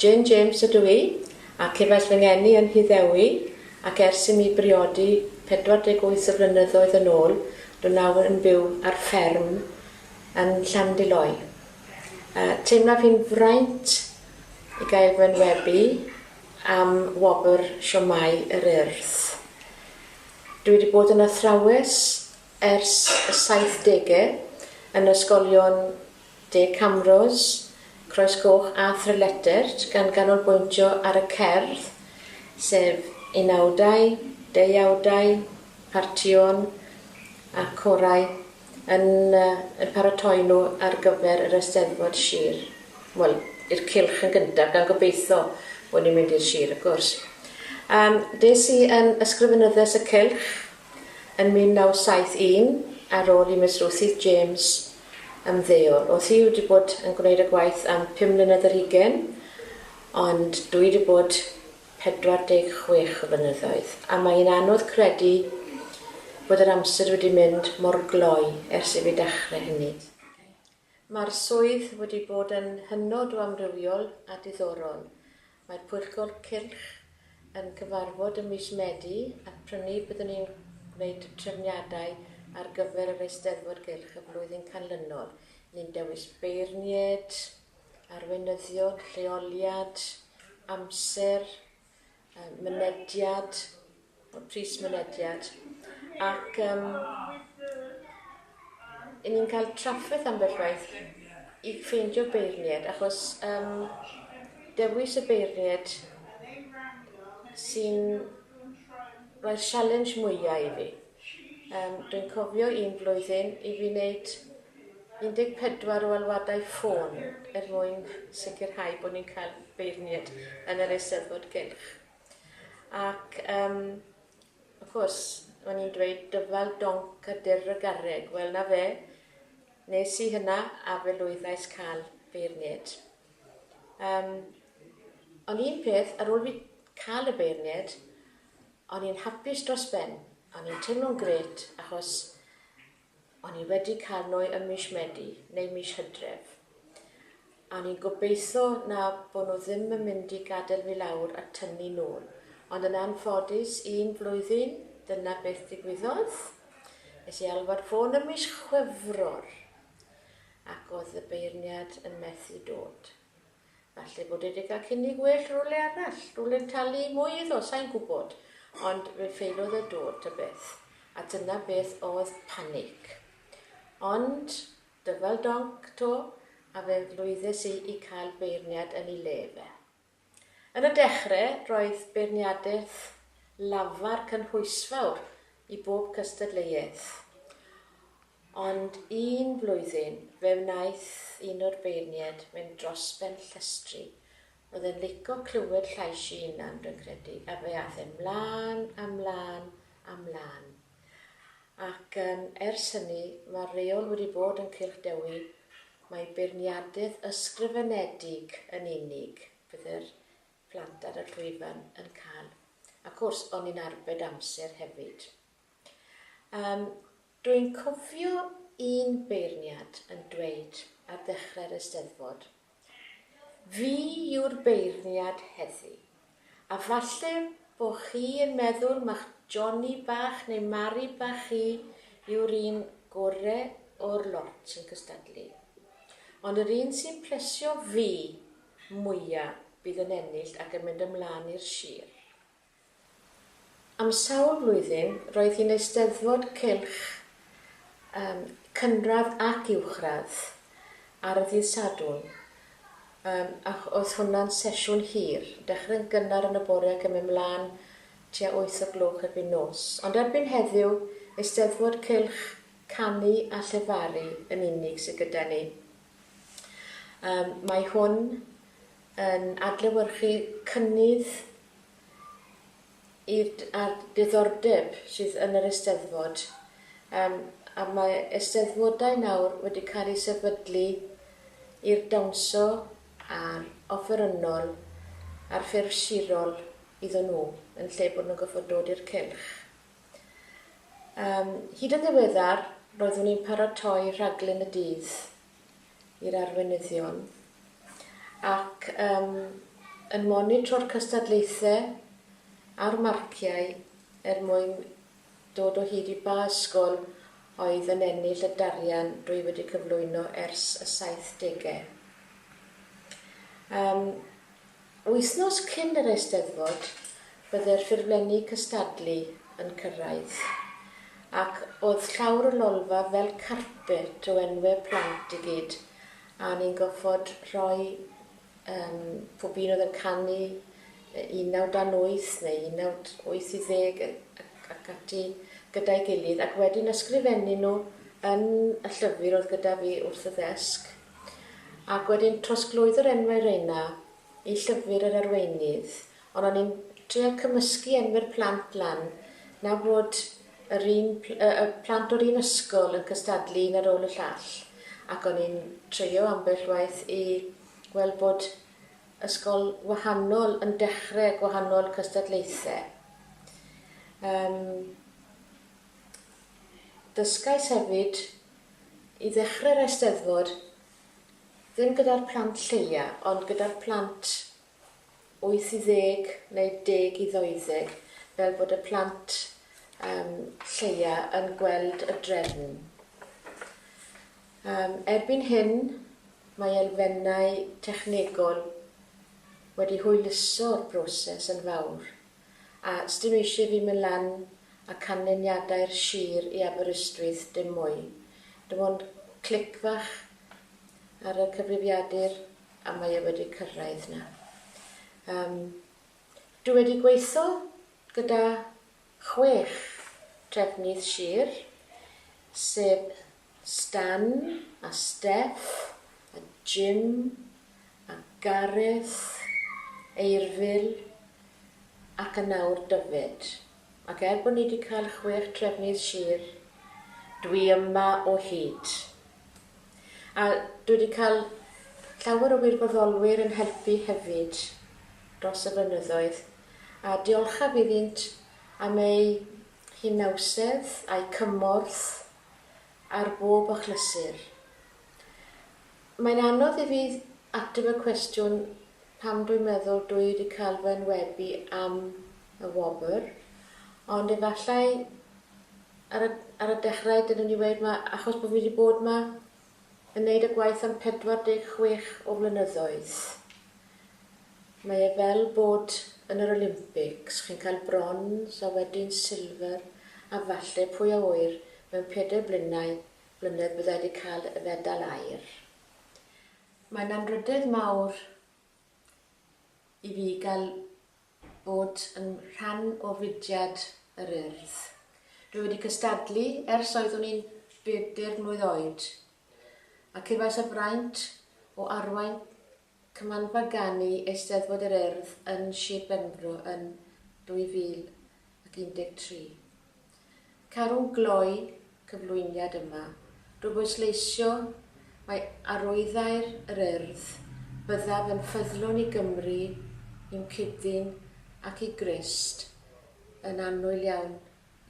Jane James ydw i, a cefais fy ngeni yn Nhyddewi, ac ers i mi briodi 48 o flynyddoedd yn ôl, dw nawr yn byw ar fferm yn Llandyloy. Yy, teimlaf hi'n fraint i gael fy enwebu am wobr Siomai yr Urdd. Dw i wedi bod yn athrawes ers y saithdege yn ysgolion De Camrose, Croesgoch a Thrylletert gan ganolbwyntio ar y cerdd, sef unawdau, deuawdau, partïon a chorau yn eu paratoi nhw ar gyfer yr Eisteddfod Sir, wel, i'r cylch yn gyntaf, gan gobeithio bod ni'n mynd i'r Sir wrth gwrs. Yym, des i yn Ysgrifenyddes y Cylch yn 1971 ar ôl i Miss Ruthie James ymddeol. Odd Huw 'di bod yn gwneud y gwaith am pum mlynedd ar hugen, ond dwi 'di bod 46 o flynyddoedd, a mae hi'n anodd credu bod yr amser wedi mynd mor gloi ers i fi dachre hynny. Ma'r swydd wedi bod yn hynod o amrywiol a diddorol, Mae'r Pwyllgor Cylch yn cyfarfod ym mis Medi ac prynu byddwn ni'n gwneud y trefniadau ar gyfer yr Eisteddfod Gylch y flwyddyn canlynol. Ni'n dewis beirnied, arweinyddion, lleoliad, amser, mynediad, y pris mynediad ac yym i ni'n cael trafferth ambell waith i ffeindio beirnied achos yym dewis y beirnied sy'n rhoi'r sialens mwyaf i fi. Yym dwi'n cofio un flwyddyn i fi wneud 14 o alwadau ffôn er mwyn sicrhau bod ni'n cael beirnied yn yr Eisteddfod Gylch. Ac yym, wrth gwrs, o'n i'n dweud dyfal donc a dirr y garreg. Wel, 'na fe, nes i hynna a fe lwyddais cael beirnied. Um, ond un peth, ar ôl fi cael y beirnied, o'n i'n hapus dros ben. O'n i'n teimlo'n gret, achos O'n i wedi cael nwy ym mish Medi neu mish Hydref. A o'n i'n gobeitho na bo nhw ddim yn mynd i gadel fi lawr a tynnu nôl. Ond yn anffodus, un flwyddyn, dyna beth ddigwyddodd. Es i alwad ffôn ym mish Chwefror ac o'dd y beirniad yn methu dod. Falle bod e 'di cael cynnig well rywle arall, rywle'n talu mwy iddo, sai'n gwybod. Ond fe ffeiliodd e dod, ta beth. A dyna beth oedd panig. Ond, dyfal donc 'to, a fe lwyddes i i cael beirniad yn ei le fe. Yn y dechre, roedd beirniadaeth lafar cynhwysfawr i bob cystadleuaeth. Ond un blwyddyn, fe wnaeth un o'r beirniaid fynd dros ben llestri, oedd e'n lico clywed llais i 'unan, dwi'n credu, a fe ath e 'mlan a 'mlan a 'mlan. Ac yym ers hynny, mae'r reol wedi bod yn Cylch Dewi, mae beirniadedd ysgrifenedig yn unig fydd yr plant ar y llwyfan yn cael. Ac wrs, o'n i'n arbed amser hefyd. Yym, Dwi'n cofio un beirniad yn dweud ar ddechrau'r Eisteddfod, 'Fi yw'r beirniad heddi', a falle bo' chi yn meddwl ma'ch Johnny bach neu Mari bach chi yw'r un gore o'r lot yn cystadlu, ond yr un sy'n plesio fi mwya bydd yn ennill ac yn mynd ymlan i'r sir. Am sawl blwyddyn roedd hi'n Eisteddfod Cylch ym cynradd ac uwchradd ar y ddydd Sadwrn ym ac oedd hwnna'n sesiwn hir, dechrau'n gynnar yn y bore ac yn mynd mlaen tua wyth o gloch erbyn nos. Ond erbyn heddiw, Eisteddfod Cylch, Canu a Llefaru yn unig sydd gyda ni. Ym mae hwn yn adlewyrchu cynnydd a'r diddordeb sydd yn yr Eisteddfod yym a mae Eisteddfodau nawr wedi cael eu sefydlu i'r dawnsio a'r offerynnol a'r ffurf sirol iddyn nhw yn lle bod nhw'n gorfod dod i'r cylch. Yym hyd yn ddiweddar roeddwn i'n paratoi rhaglen y dydd i'r arweinyddion ac yym yn monitro'r cystadlaethau a'r marciau er mwyn dod o hyd i ba ysgol oedd yn ennill y darian rwy wedi cyflwyno ers y saithdegau. Yym. Wythnos cyn yr Eisteddfod bydde'r ffurflenni cystadlu yn cyrraedd, ac o'dd llawr y lolfa fel carpet o enwe plant i gyd, a o'n i'n goffod rhoi yym pob un oedd yn canu un naw dan wyth neu un naw wyth i ddeg yy ac ac ati gyda'i gilydd, ac wedyn ysgrifennu nhw yn y llyfr oedd gyda fi wrth y ddesg. Ac wedyn trosglwyddo'r enwau reina i llyfr yr arweinydd, ond o'n i'n trial cymysgu enwau'r plant lan na fod yr un y y plant o'r un ysgol yn cystadlu un ar ôl y llall, ac o'n i'n treio ambell waith i weld bod ysgol wahanol yn dechre gwahanol cystadlaethe. Yym dysgais hefyd I ddechrau'r Eisteddfod, ddim gyda'r plant lleia, ond gyda'r plant wyth i ddeg neu deg i ddeuddeg, fel bod y plant yym lleia yn gweld y drefn. Yym erbyn hyn, mae elfennau technegol wedi hwyluso'r broses yn fawr. A os dyn nhw eisiau fi mynd lan a canlyniadau'r sir i Aberystwyth dim mwy. Dim ond clic fach ar y cyfrifiadur a mae e wedi cyrraedd 'na. Yym dwi wedi gweitho gyda chwech trefnydd sir, sef Stan a Steff a Jim a Gareth, Eirfil, ac yn awr Dyfed. Ac er bod ni 'di cael chwech trefnydd sir, dwi yma o hyd. A dwi 'di cael llawer o wirfoddolwyr yn helpu hefyd dros y blynyddoedd, a diolchaf iddynt am eu hunawsedd, a'u cymorth ar bob achlysur. Mae'n anodd i fi ateb y cwestiwn pam dwi'n meddwl dw i wedi cael fy enwebu am y wobr, ond efallai ar y ar y dechrau dylwn i weud ma' achos bo' fi wedi bod 'ma yn neud y gwaith am 46 o flynyddoedd. Mae e fel bod yn yr Olympics, chi'n cael brons a wedyn silver a falle pwy a ŵyr mewn pedair blinnau mlynedd bydda i 'di cael y fedal aur. Mae'n anrhydedd mawr i fi gael bod yn rhan o fudiad yr Urdd. Dwi wedi cystadlu ers oeddwn i'n bedair mlwydd oed, a cefais y fraint o arwain Cymanfa Ganu Eisteddfod yr Urdd yn Shir Benfro yn 2000. ac 13. Caru gloi cyflwyniad yma drwy bwysleisio mai arwyddair yr Urdd byddaf yn ffyddlon i Gymru, i'm cyd-ddyn ac i Grist yn annwyl iawn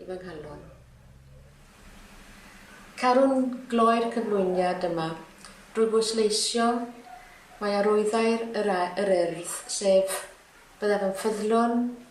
i fy nghalon. Caru gloi'r cyflwyniad yma drwy bwysleisio mai arwyddair yr Urdd, sef, byddaf yn ffyddlon